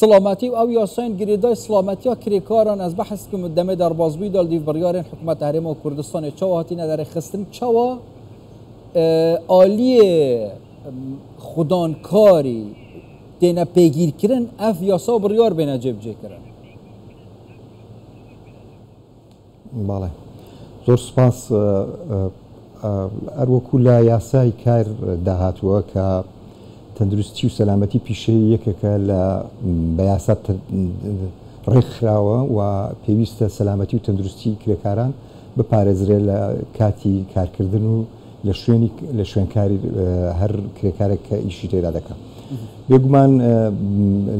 سڵامەتی و ئەو یاسایەن گرێدای سڵامەتیا کرێکاران ئەز بەحس کم و دەمێ دەربازبوی دال دیو بڕیارێن حکومەت هەرێمەوە کوردستانی چاوە هاتی نەدەرێ خستن چاوە ئالیێ خودانکاری تێنە پێگیرکردن ئەف یاسا بڕیار بێنە جێبجێکردن. بەڵێ زۆر سوپاس. هەروەکو لە یاسای کار دا هاتووە کە تەندروستی و سەلامەتی پیشەیی یەکێکە لە بە یاسا ڕێکخراوە و پێویستە سەلامەتی و تەندروستی کرێکاران بپارێزرێت لە کاتی کارکردن و لە شوێنیک لە شوێنکاری هەر کرێکارێک کە ئیشی تێدا دەکا بێگومان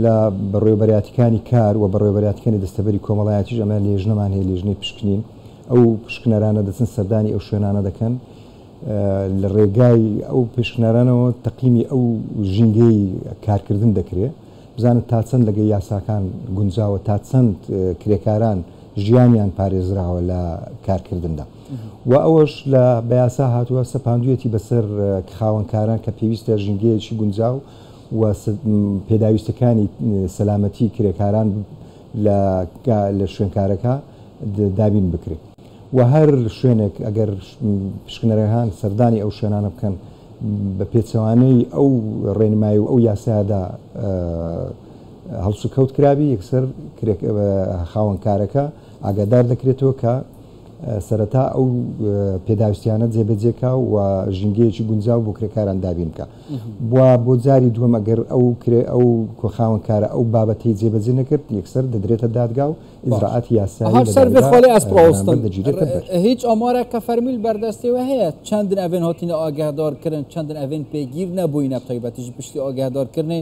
لە بەڕێوەبەراتیکانی کار و بەڕێوەبەراتیکانی دەستەبەری کۆمەڵایەتیش ئەمە لێژنەمان هەیە لێژنەی پشکنین ئەو پشکنەرانە دەچن سەردانی ئەو شوێنانە دەکەن لە ڕێگای ئەو پشکنەرانەوە تەقیمی ئەو ژینگەی کارکردن دەکرێ بزانن تا چەند لەگە یاساکان گونجاوە تا چەند کرێکاران ژیانیان پارێزراوە لە کارکردندا. و ئەوەش لە بە یاسا هاتووە سەپاندوویەتی بەسەر خاوەنکاران کە پێویستە ژینگەیەکی گونجاو و پێداویستەکانی سەلامەتی کرێکاران لە شوێنکارەکە دابین بکرێ و هەر شوێنێک ئەگەر پشکنەرەهان سەردانی ئەو شوێنانە بکەن بە پێچەوانەی ئەو ڕێنمایی و ئەو یاسایەدا هەڵسوکەوت کرابی یەکسەر خاوەنکارەکە ئاگادار دەکرێتەوە کە سەرەتا ئەو پێداویستیانە جێبەجێ کا و ژینگەیەکی گونجاو بۆ کرێکاران دابین بکە بووە بۆ جاری دووەم ئەگەر ئەو کرێ ئەو کۆخاون کارە ئەو بابەتی جێبەجێ نەکرد یەکسەر دەدرێتە دادگا و ئیزراعات یاساگیرێتە هیچ ئەمارە کە فەرمیل بەردەستەوە هەیە چەندن ئەێن هاتینە ئاگادارکردن چەندن ئەێن پێگیر نەبووینە تایبەتیش پشتی ئاگادارکردنی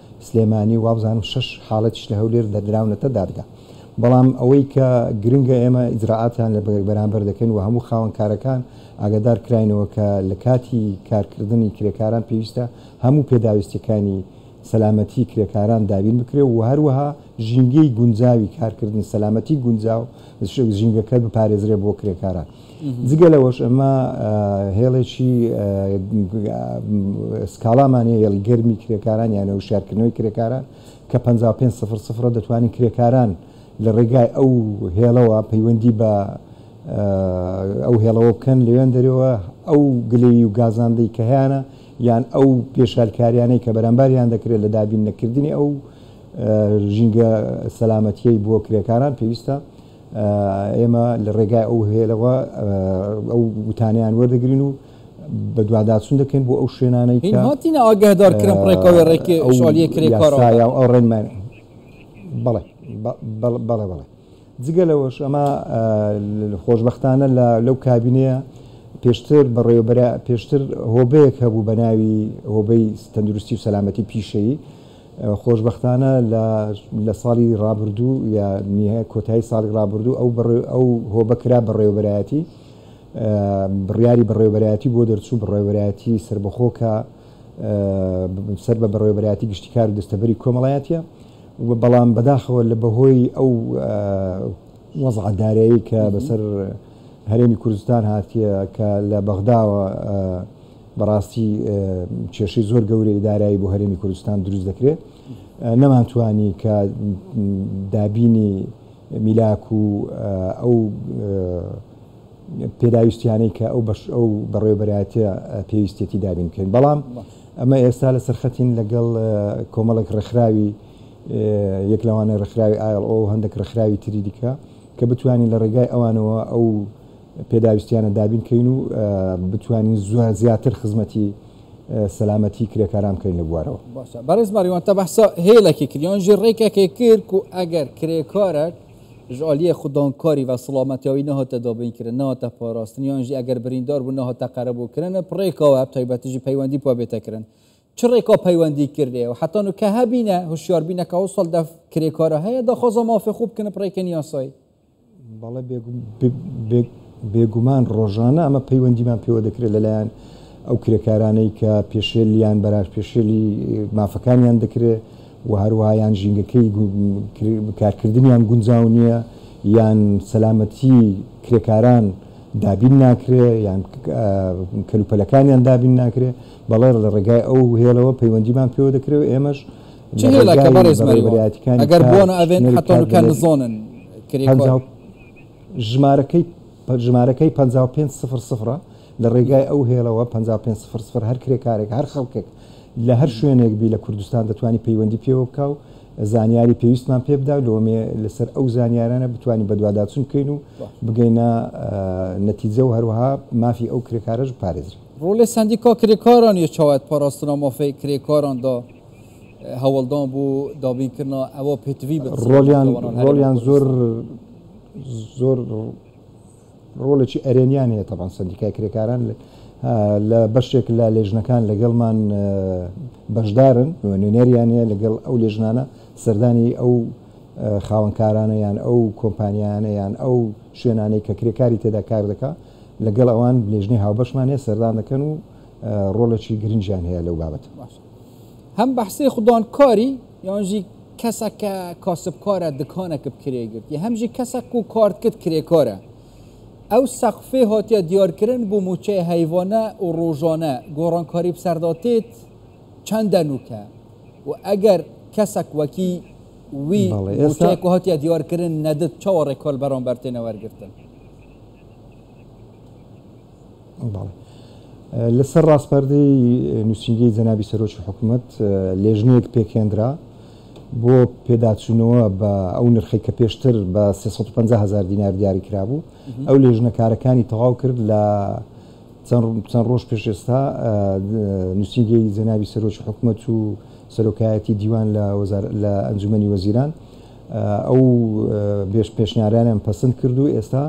سلێمانی و وابزانم شەش حاڵەتیش لە هەولێر دەردراونەتە دادگا. بەڵام ئەوەی کە گرنگە ئێمە ئیجرائاتیان لە بەرامبەر دەکەین و هەموو خاوەن کارەکان ئاگادار کراینەوە کە لە کاتی کارکردنی کرێکاران پێویستە هەموو پێداویستیەکانی سەلامەتی کرێکاران دابین بکرێ و هەروەها ژینگەی گونجاوی کارکردن سەلامەتی گونجاو ژینگەکە بپارێزرێ بۆ کرێکاران. جگە لەوەش ئەمە هێڵێکی سکاڵامان هەیە، هێڵی گەرمی کرێکاران یانە وشیارکردنەوەی کرێکاران کە پەنجا و پێنج سفر سفر ە دەتوانین کرێکاران لە ڕێگای ئەو هێڵەوە پەیوەندی بە ئەو هێڵەوە بکەن لەوێن دەرەوە ئەو گلەیی و گازاندەی کە هەیانە یان ئەو پێشالکاریانەی کە بەرامباریان دەکرێت لە دابین نەکردنی ئەو ژینگە سەلامەتیەی بۆ کرێکاران پێویستە ئێمە لە ڕێگای ئەو هێلەوە ئەو وتانەیان وەردەگرین و بەدواداچوون دەکەین بۆ ئەو شوێنانەی کە هاتینە ئاگهدارکرن ڕێکەوەی ڕێکی شالیە کرێ کارەوە ئەو ڕێنمان بەڵێ بەڵێ بەڵێ جگە لەوەش ئەمە خۆشببختانە لە لەو کابینەیە پێشتر بەڕێوەبەرە پێشتر هۆبەیەک هەبوو بە ناوی هۆبەی تەندروستی و سەلامەتی پیشەیی خۆشبەختانە لە ساڵی ڕابردوو یا نیهە کۆتایی ساڵی ڕابردوو ئەو هۆبە کرا بەڕێوەبەرایەتی بڕیاری بەڕێوەبەرایەتی بۆ دەرچوو بڕێوەبەرایەتی سربەخۆ کە سەر بە بەڕێوەبەرایەتی گشتی کار و دەستەبەری کۆمەڵایەتە بەڵام بەداخەوە لە بەهۆی ئەو وەزعە دارایی کە بەسەر هەرێمی کوردستان هاتیە کە لە بەغداوە بەڕاستی کێشەی زۆر گەورەی دارایی بۆ هەرێمی کوردستان دروست دەکرێت نەمانتوانی کە دابینی میلاک و ئەو پێداویستیانەی کە ئەو بەش ئەو بەڕێوبەرایەتە پێویستێتی دابین بکەین بەڵام ئەمە ئێستا لە سەرخەتین لەگەڵ کۆمەڵێک ڕێکخراوی یەک لەوانە ڕێکخراوی ئایڵ ئەو هەندێک ڕێکخراوی تری دیکە کە بتوانین لە ڕێگای ئەوانەوە ئەو پێداویستیانە دابین کەین و بتوانین زیاتر خزمەتی سەلامەتی کرێکاران بکەین لە بوارەوە. باشە بەڕێز ماریوان تا بەحسا هێلەکێ کرد یان ژێ ڕێکەکێ کرد کو ئەگەر کرێکارەک ژ ئالیێ خودان کاری و سڵامەتیاوی نەهاتە دابین کرن نەهاتە پاراستن یان ژی ئەگەر بریندار بوو نەهاتە قەرەبوو کرن پ ڕێکاوە پ تایبەتی ژی پەیوەندی پا بێتە کرن چ ڕێکا پەیوەندی کردێ و حەتا نوکە هەبینە هوشیار بینە کە ئەوساڵ دەف کرێکارە هەیە داخوازا مافێ خو بکنە پ ڕێکێن یاسایی. بەڵێ بێگومان ڕۆژانە ئەمە پەیوەندیمان پێوە دەکرێت لەلایەن ئەو کرێکارانەی کە پێشێلیان بەرار پێشێلی مافەکانیان دەکرێت و هەروەها یان ژینگەکەی کارکردنیان گونجاو نییە یان سەلامەتی کرێکاران دابین ناکرێ یان کەلوپەلەکانیان دابین ناکرێ بەڵێ لە ڕێگای ئەو هێڵەوە پەیوەندیمان پێوە دەکرێت ئێمەش چ هێلا کە بەڕێز مەریوان ئەگەر بۆنە ئەڤێن حەتەنو کە نزۆنن کرێکار. ژمارەکەی ژمارەکەی 55 سفر سفرە لە ڕێگای ئەو هێڵەوە 55 سفر سفر هەر کرێکارێک هەر خەڵکێک لە هەر شوێنێک بی لە کوردستان دەتوانانی پەیوەندی پێوە بکە و زانیاری پێویستمان پێ بدا لۆمێ لەسەر ئەو زانیارانە بتوانین بەدواداچون بکەین و بگەینە نەتیجە و هەروەها مافی ئەو کرێکارەش پارێزری ڕۆلێ سندیکا کرێکاران یە چاوات پاراستنا مافەی کرێکاراندا هەوڵدان بۆ دابین کردنا ئەوە پێتوی ڕۆلیان ڕۆلیان زۆر زۆر ڕۆڵێکی ئەرێنیان هەیە تەبان سندیکای کرێکاران لە بەشێک لە لێژنەکان لەگەڵمان بەشدارن نوێنەریان هەیە لەگەڵ ئەو لێژنانە سەردانی ئەو خاوەنکارانە یان ئەو کۆمپانیانە یان ئەو شوێنانەی کە کرێکاری تێدا کار دەکا لەگەڵ ئەوان لێژنەی هاوبەشمانێ سەردان دەکەن و ڕۆڵێکی گرنجیان هەیە لەو بابەت باش هەم بەحسەی خودان کاری یانژی کەسە کە کاسبکارە دکانە کە بکرێ گرت یە هەمژی کەسە کو کارت کرد کرێکارە ئەو سەقفێ هاتیە دیارکردن بۆ موچەی هەیوانە و ڕۆژانە گۆڕانکاری بسەرداتێت چەندە نوکە و ئەگەر کەسەک وەکی وی موچەیەک هاتیە دیارکردن نەدت چاوەڕێ کۆل بەرامبەر تێنە وەرگتن لەسەر ڕاسپاردەی نووسینگەی جەنابی سەرۆکی حکوومەت لێژنەیەک پێکهێنرا بۆ پێداچوونەوە بە ئەو نرخەی کە پێشتر بە سێ سەد و پەنجا هەزار دینار دیاری کرابوو. ئەو لێژنە کارەکانی تەواو کرد لە چەند ڕۆژ پێش ئێستا نووسینگەی جەنابی سەرۆکی حکوومەت و سەرۆکایەتیی دیوان لە ئەنجوومەنی وەزیران ئەو پێشنیارانەیان پەسند کرد و ئێستا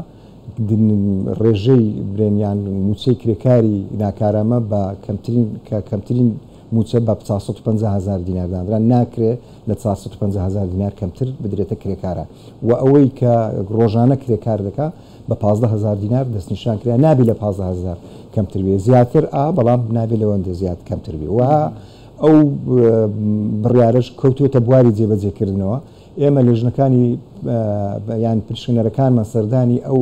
ڕێژەی برێن یان مووچەی کرێکاری ناکارامە بە کەمترین کە کەمترین مووچە بە چوار سەد و پەنجا هەزار دینار دانرا، ناکرێ لە چوار سەد و پەنجا هەزار دینار کەمتر بدرێتە کرێکاران و ئەوەی کە ڕۆژانە کرێکار دەکا بە پازدە هەزار دینار دەستنیشان کرا، نابێ لە پازدە هەزار کەمتر بێ، زیاتر ئا بەڵام نابێ لەوەندە زیاد کەمتر بێ و ئەو بڕیارەش کەوتووەتە بواری جێبەجێکردنەوە. ئێمە لێژنەکانی یان پریشکنەرەکانمان سەردانی ئەو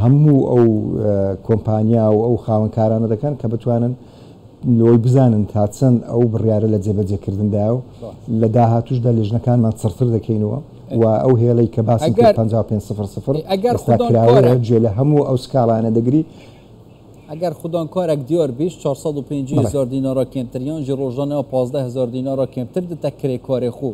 هەموو ئەو کۆمپانیا و ئەو خاوەنکارانە دەکەن کە بتوانن لۆی بزانن تا چەند ئەو بڕیارە لە جێبەجێکردندا و لە داهاتوشدا لێژنەکانمان چڕتر دەکەینەوە و ئەو هێڵی کە باسی 55 ئەگەر خراوەیە جێ لە هەموو ئەو سکاڵانە دەگری ئەگەر خودۆن کۆرەک دیۆر 2450 زۆر دینۆرە کێمتریۆنجی ڕۆژۆنەوە 15 هزار دینۆرە کێمتر دتە کرێ کۆرێ خوو.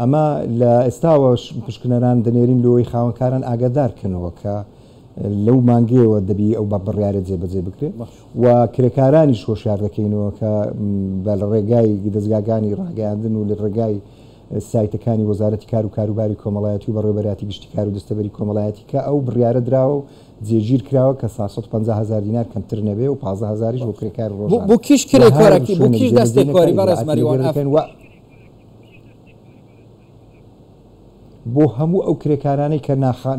ئەمە لە ئێستاوەش پشکنەران دەنێرین لۆی خاوەنکاران ئاگادار کەنەوە کە لەو مانگەیەوە دەبی ئەو بە بڕیارە جێبەجێ بکرێت و کرێکارانیش هۆشیار دەکەینەوە کە بە لە ڕێگای دەزگاگانی ڕاگەیاندن و لە ڕێگای سایتەکانی وەزارەتی کار و کاروباری کۆمەڵایەتی و بەڕێوبەراتی گشتی کار و دەستەبەری کۆمەڵایەتی کە ئەو بڕیارە دراوە و جێگیر کراوە کە سا سەد و پەنجا هەزار دینار کەمتر نەبێ و پازدە هەزاریش بۆ کرێکار ڕۆژانە بۆ کیش کرێکارەکەی بۆ کیش دەستێکۆری بەڕێز مەریوان ئەف. بۆ هەموو ئەو کرێکارانەی کە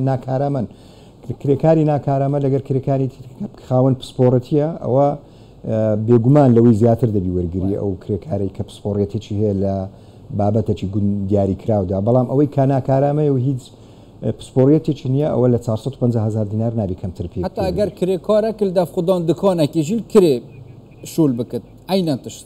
ناکارامەن کرێکاری ناکارامە لەگەر کرێکاری خاوەن پسپۆڕەتیە ئەوە بێگومان لەوەی زیاتر دەبی وەرگری ئەو کرێکارێک کە پسپۆڕێتێکی هەیە لە بابەتەکی گون دیاری کراودا بەڵام ئەوەی کاناکارامەیە و هیچ پسپۆریەتێکی نییە ئەوە لە 450 هزار دینار نابی کەمتر پێ حتا گەر کرێکارە کل دەف خودۆن دکۆنەکیژیل کرێ شول بکرد عینەن تشت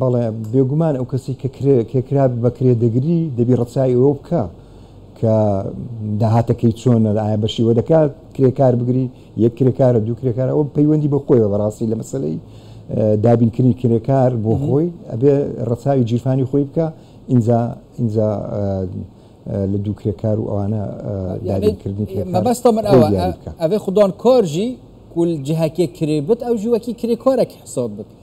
بەڵێ بێگومان ئەو کەسی کە کرێکرا بە کرێدەگری دەبی ڕەچای ئەوە بکە کە داهاتەکەی چۆنە ئایا بەشی وە دەکات کرێکار بگری یەک کرێکارە دوو کرێکارە ئەو پەیوەندی بە خۆیەوە بەڕاستی لە مەسلەی دابینکردنی کرێکار بۆ خۆی ئەبێ ڕەچاوی جیرفانی خۆی بکە ئینجا ئینجا لە دوو کرێکار و ئەوانە دابینکردنی کرێکاربەستە من ئەوە ئەێ خوددان کارژی کول جهکێ کرێ بت ئەو ژوەکی کرێکارێک حساب بکە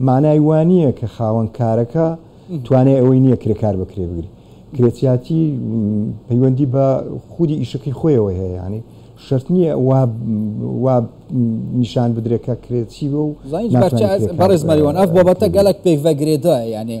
مانای وا نییە کە خاوەن کارەکە توانای ئەوەی نییە کرێکار بە کرێ بگری. کرێچیاتی پەیوەندی بە خودی ئیشەکەی خۆیەوە هەیە، یانی شەرت نییە وا وا نیشان بدرێ کە کرێچی بووە و ناتوانێ کرێکار بە کرێ بگرێ.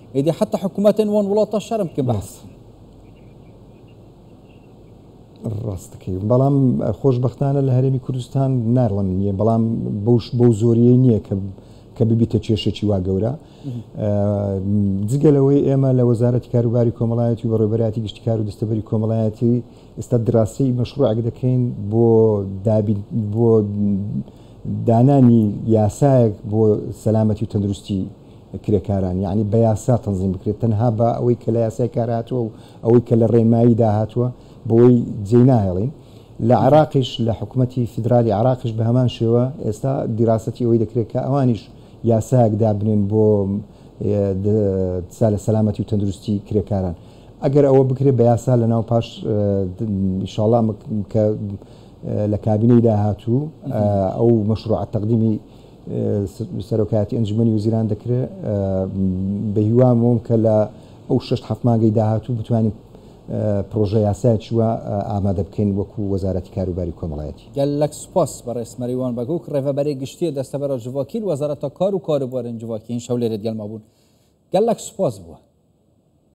ئیدی حتی حکومەتن وەن وڵاتە شەرم بکە بەس. ڕاستەکەی بەڵام خۆشببختانە لە هەرێمی کوردستان ناڵم نییە بەڵام بەوش بەو زۆریە نییە کە کە ببیتە کێشێکی وا گەورە جگەلەوەی ئێمە لە وەزارەتی کاروباری کۆمەڵایەتی و بەڕێبەراتی گشتی کار و دەستەبەری کۆمەڵایەتی ئێستا دراسی مەشروعک دەکەین بۆ دابین بۆ دانانی یاسایەک بۆ سەلامەتی و تەندروستی کرێکاران یەعنی بە یاسا تەنزیم بکرێت تەنها بە ئەوەی کە لە یاسای کار هاتووە و ئەوەی کە لە ڕێنمایی دا هاتووە بەوەی جێی ناهێڵین. لە عێراقیش لە حکومەتی فیدرالی عێراقیش بە هەمان شێوە ئێستا دیراسەتی ئەوەی دەکرێت کە ئەوانیش یاسایەک دابنێن بۆ سالە سەلامەتی و تەندروستی کرێکاران ئەگەر ئەوە بکرێت بە یاسا لە ناو پاش ئیشاڵا کە لە کابینەی داهاتوو ئەو مەشروعە تەقدیمی سەرۆکایەتی ئەنجومەنی وەزیران دەکرێ، بەهیوام وم کە لە ئەو شەش حەفت مانگەی داهاتوو بتوانین پڕۆژە یاسایەکی وا ئامادە بکەین وەکو وەزارەتی کاروباری کۆمەڵایەتی. گەل لەک سوپاس بەڕێز مەریوان بەگوک ڕێڤەبەرێ گشتیێ دەستەبەرە جڤاکیل وەزارەتا کار و کاروبارێن جڤاکی هین شەو لێرێد گەلما بوون گەل لەک سوپاس بووە.